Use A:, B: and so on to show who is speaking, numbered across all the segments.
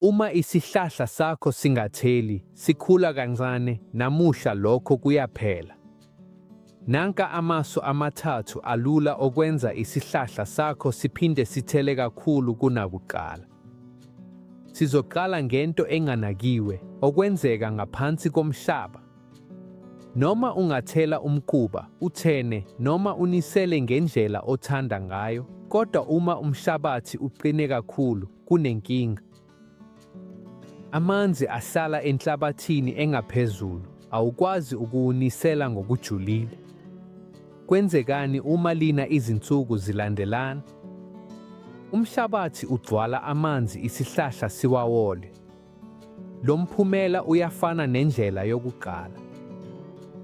A: Uma isihlahla sakho singatheli, sikhula kancane, namuhla lokho kuyaphela. Nanka amasu amathathu alula okwenza isihlahla sakho siphinde sithele kakhulu kunakuqala. Sizoqala ngento enganakiwe, okwenzeka ngaphansi komhlaba. Noma ungathela umquba, uthene noma unisele ngendlela othanda ngayo, kodwa uma umhlabathi uqine kakhulu, kunenkinga. Amanzi ahlala enhlabathini engaphezulu awukwazi ukuwunisela ngokujulile. Kwenzekani uma lina izinsuku zilandelana? Umhlabathi ugcwala amanzi isihlahla siwawole. Lo mphumela uyafana nendlela yokuqala.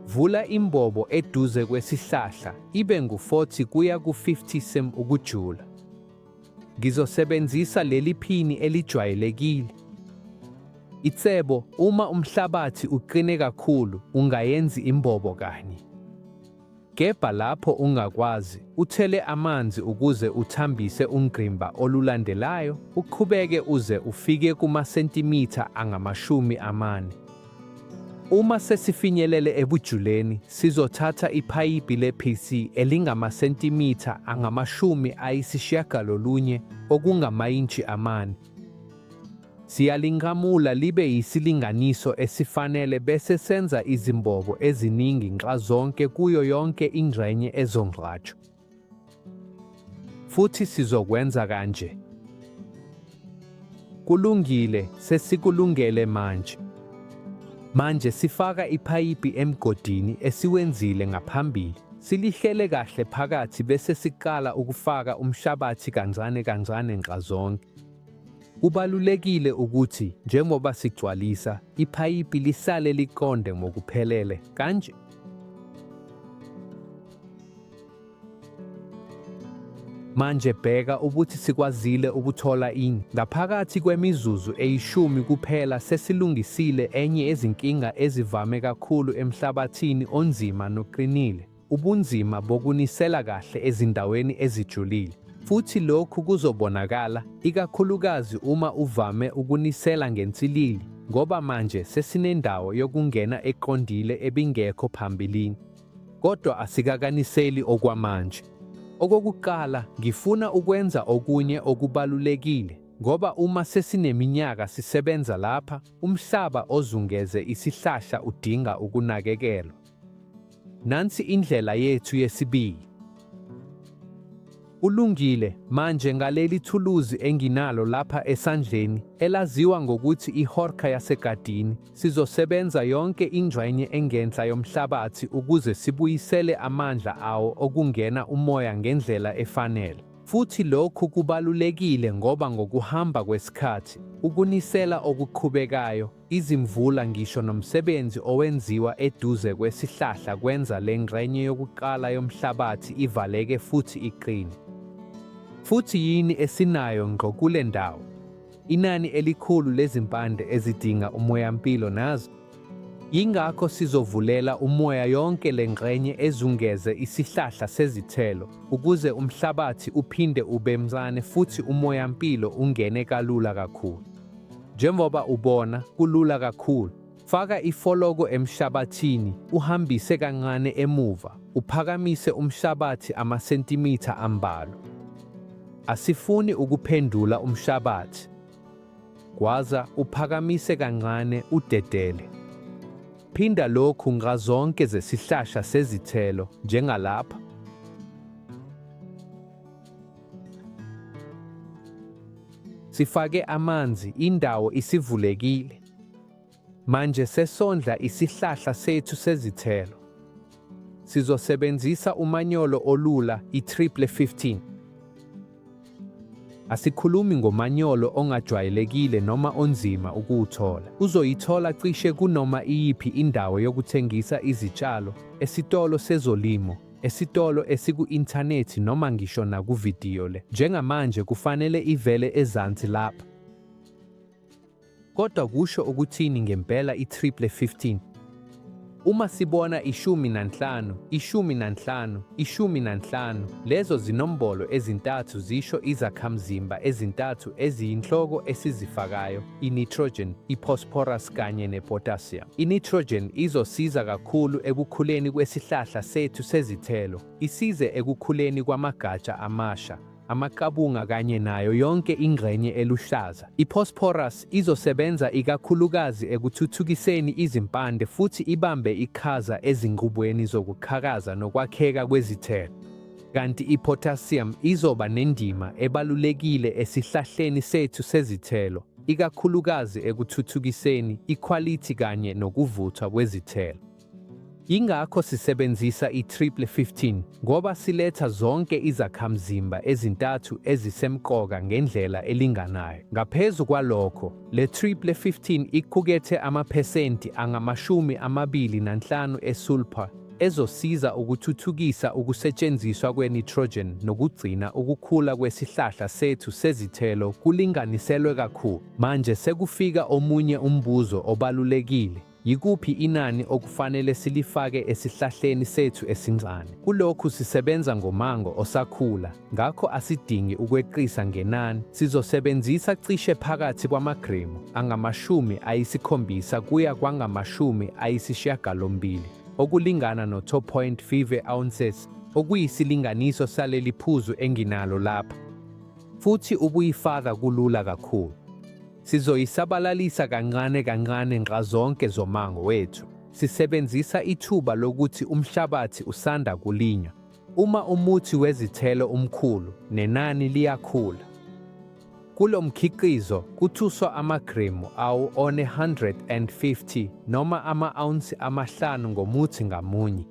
A: Vula imbobo eduze kwesihlahla ibe ngu-40 kuya ku-50 cm ukujula. Ngizosebenzisa leli phini elijwayelekile. Itsebo, uma umhlabathi uqine kakhulu, ungayenzi imbobo kanye. Gebha lapho ungakwazi, uthele amanzi ukuze uthambise ungqimba olulandelayo, uqhubeke uze ufike kumasentimitha angamashumi amane. Uma sesifinyelele ebujuleni, sizothatha iphayiphi le-PC elingamasentimitha angamashumi ayisishiyagalolunye okungamayintshi amane. Siyalinqamula libe yisilinganiso esifanele bese senza izimbobo eziningi nxazonke kuyo yonke ingxenye ezongcwatshwa. Futhi sizokwenza kanje. Kulungile, sesikulungele manje. Manje sifaka ipayipi emgodini esiwenzile ngaphambili, silihlele kahle phakathi bese siqala ukufaka umhlabathi kancane kancane nxazonke. Kubalulekile ukuthi njengoba sigcwalisa, ipayipi lisale liqonde ngokuphelele kanje. Manje bheka ukuthi sikwazile ukuthola ini. Ngaphakathi kwemizuzu eyishumi kuphela sesilungisile enye yezinkinga ezivame kakhulu emhlabathini onzima noqinile, ubunzima bokunisela kahle ezindaweni ezijulile. Futhi lokhu kuzobonakala, ikakhulukazi uma uvame ukunisela ngensilili, ngoba manje sesinendawo yokungena eqondile ebingekho phambilini. kodwa asikakaniseli okwamanje. Okokuqala, ngifuna ukwenza okunye okubalulekile ngoba uma sesineminyaka sisebenza lapha, umhlaba ozungeze isihlahla udinga ukunakekelwa. Nansi indlela yethu yesibili. Kulungile, manje ngaleli thuluzi enginalo lapha esandleni, elaziwa ngokuthi ihorka yasegadini, sizosebenza yonke ingxenye engenhla yomhlabathi ukuze sibuyisele amandla awo okungena umoya ngendlela efanele. Futhi lokhu kubalulekile ngoba ngokuhamba kwesikhathi, ukunisela okuqhubekayo, Izimvula ngisho nomsebenzi owenziwa eduze kwesihlahla kwenza le ngxenye yokuqala yomhlabathi ivaleke futhi iqine. Futhi yini esinayo ngqo kule ndawo? Inani elikhulu lezimpande ezidinga umoyampilo nazo. Yingakho sizovulela umoya yonke le ngxenye ezungeze isihlahla sezithelo ukuze umhlabathi uphinde ube mncane futhi umoyampilo ungene kalula kakhulu. Njengoba ubona, kulula kakhulu. Faka ifoloko emhlabathini, uhambise kancane emuva, uphakamise umhlabathi amasentimitha ambalwa. Asifuni ukuphendula umhlabathi. Gwaza, uphakamise kancane, udedele. Phinda lokhu ngazonke zesihlahla sezithelo, njengalapha. Sifake amanzi, indawo isivulekile. Manje sesondla isihlahla sethu sezithelo. Sizosebenzisa umanyolo olula i-triple 15. Asikhulumi ngomanyolo ongajwayelekile noma onzima ukuwuthola. Uzoyithola cishe kunoma iyiphi indawo yokuthengisa izitshalo, esitolo sezolimo esitolo esiku-inthanethi noma ngisho nakuvidiyo le. Njengamanje kufanele ivele ezansi lapha. Kodwa kusho ukuthini ngempela i-triple 15? Uma sibona ishumi nanhlanu, ishumi nanhlanu, ishumi nanhlanu, lezo zinombolo ezintathu zisho izakhamzimba ezintathu eziyinhloko esizifakayo. i-nitrogen, i-phosphorus kanye ne-potassium. I-nitrogen izosiza kakhulu ekukhuleni kwesihlahla sethu sezithelo, isize ekukhuleni kwamagatsha amasha, amaqabunga kanye nayo yonke ingxenye eluhlaza. I-phosphorus izosebenza ikakhulukazi ekuthuthukiseni izimpande futhi ibambe iqhaza ezinqubweni zokuqhakaza nokwakheka kwezithelo. kanti i-potassium izoba nendima ebalulekile esihlahleni sethu sezithelo, ikakhulukazi ekuthuthukiseni ikhwalithi kanye nokuvuthwa kwezithelo. Ingakho sisebenzisa i-triple 15 ngoba siletha zonke izakhamzimba ezintathu ezisemqoka ngendlela elinganayo. Ngaphezu kwalokho, le triple 15 iqukethe amaphesenti angamashumi amabili nanhlanu esulphur ezosiza ukuthuthukisa ukusetshenziswa kwe-nitrogen nokugcina ukukhula kwesihlahla sethu sezithelo kulinganiselwe kakhulu. Manje sekufika omunye umbuzo obalulekile. Yikuphi inani okufanele silifake esihlahleni sethu esincane? Kulokhu sisebenza ngomango osakhula, Ngakho asidingi ukweqisa ngenani, sizosebenzisa cishe phakathi kwamagremu angamashumi ayisikhombisa kuya kwangamashumi ayisishiyagalombili, okulingana no-2.5 ounces, okuyisilinganiso saleli phuzu enginalo lapha. Futhi ubuyifaka kulula kakhulu. Sizoyisabalalisa kancane kancane nxazonke zomango wethu, sisebenzisa ithuba lokuthi umhlabathi usanda kulinywa. Uma umuthi wezithelo umkhulu, nenani liyakhula. Kulo mkhiqizo kuthuswa amagrimu awu one-150 noma ama-awunsi amahlanu ngomuthi ngamunye.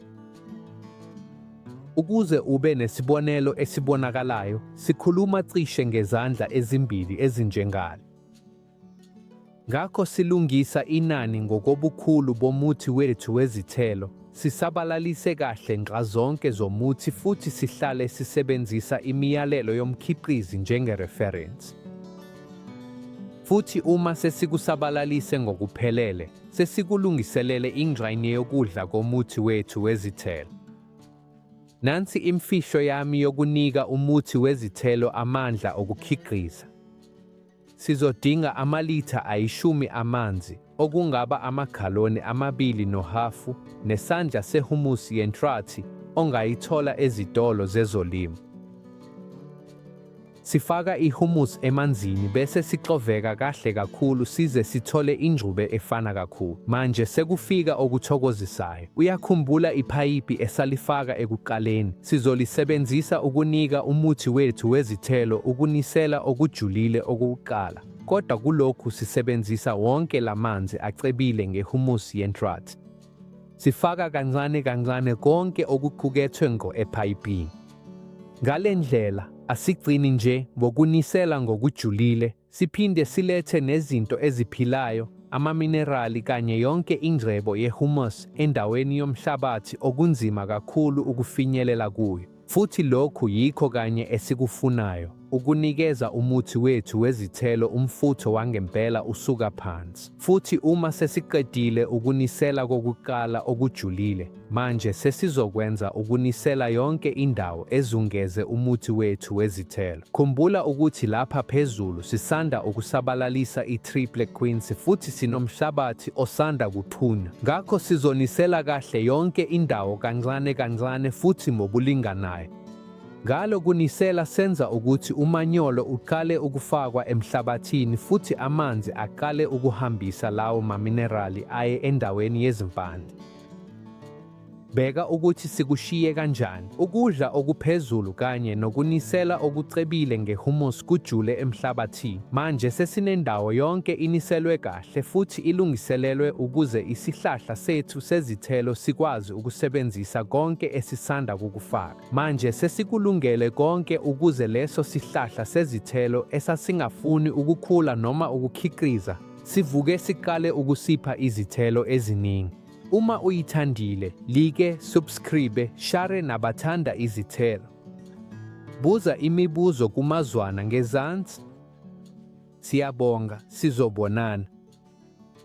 A: Ukuze ube nesibonelo esibonakalayo, sikhuluma cishe ngezandla ezimbili ezinjengale. Ngakho silungisa inani ngokobukhulu bomuthi wethu wezithelo, sisabalalise kahle nxazonke zomuthi futhi sihlale sisebenzisa imiyalelo yomkhiqizi njengereferensi. Futhi uma sesikusabalalise ngokuphelele, sesikulungiselele ingxenye yokudla komuthi wethu wezithelo. Nansi imfihlo yami yokunika umuthi wezithelo amandla okukhiqiza. Sizodinga amalitha ayishumi amanzi, okungaba amaghaloni amabili nohhafu, nesandla sehumusi yentrathi ongayithola ezitolo zezolimo. Sifaka ihumusi emanzini bese sixoveka kahle kakhulu size sithole ingxube efana kakhulu. Manje sekufika okuthokozisayo. Uyakhumbula iphayiphi esalifaka ekuqaleni? Sizolisebenzisa ukunika umuthi wethu wezithelo ukunisela okujulile okokuqala, kodwa kulokhu sisebenzisa wonke la manzi acebile ngehumusi yenhlathi. Sifaka kancane kancane konke okuqukethwe ngo ephayipini. Ngale ndlela asigcini nje ngokunisela ngokujulile Siphinde silethe nezinto eziphilayo, amaminerali kanye yonke ingcebo ye-humus endaweni yomhlabathi okunzima kakhulu ukufinyelela kuyo. Futhi lokhu yikho kanye esikufunayo, ukunikeza umuthi wethu wezithelo umfutho wangempela usuka phansi. Futhi uma sesiqedile ukunisela kokuqala okujulile, Manje sesizokwenza ukunisela yonke indawo ezungeze umuthi wethu wezithelo. Khumbula ukuthi lapha phezulu sisanda ukusabalalisa i-triple quince futhi sinomhlabathi osanda kuqhunywa. Ngakho sizonisela kahle yonke indawo kancane kancane futhi ngokulinganayo. Ngalo kunisela senza ukuthi umanyolo uqale ukufakwa emhlabathini futhi amanzi aqale ukuhambisa lawo maminerali aye endaweni yezimpande. Bheka ukuthi sikushiye kanjani. Ukudla okuphezulu kanye nokunisela okucebile ngehumus kujule emhlabathini. Manje sesinendawo yonke iniselwe kahle futhi ilungiselelwe ukuze isihlahla sethu sezithelo sikwazi ukusebenzisa konke esisanda kukufaka. Manje sesikulungele konke ukuze leso sihlahla sezithelo esasingafuni ukukhula noma ukukhiqiza sivuke siqale ukusipha izithelo eziningi. Uma uyithandile, like, subscribe, share nabathanda izithelo. Buza imibuzo kumazwana ngezansi. Siyabonga, sizobonana.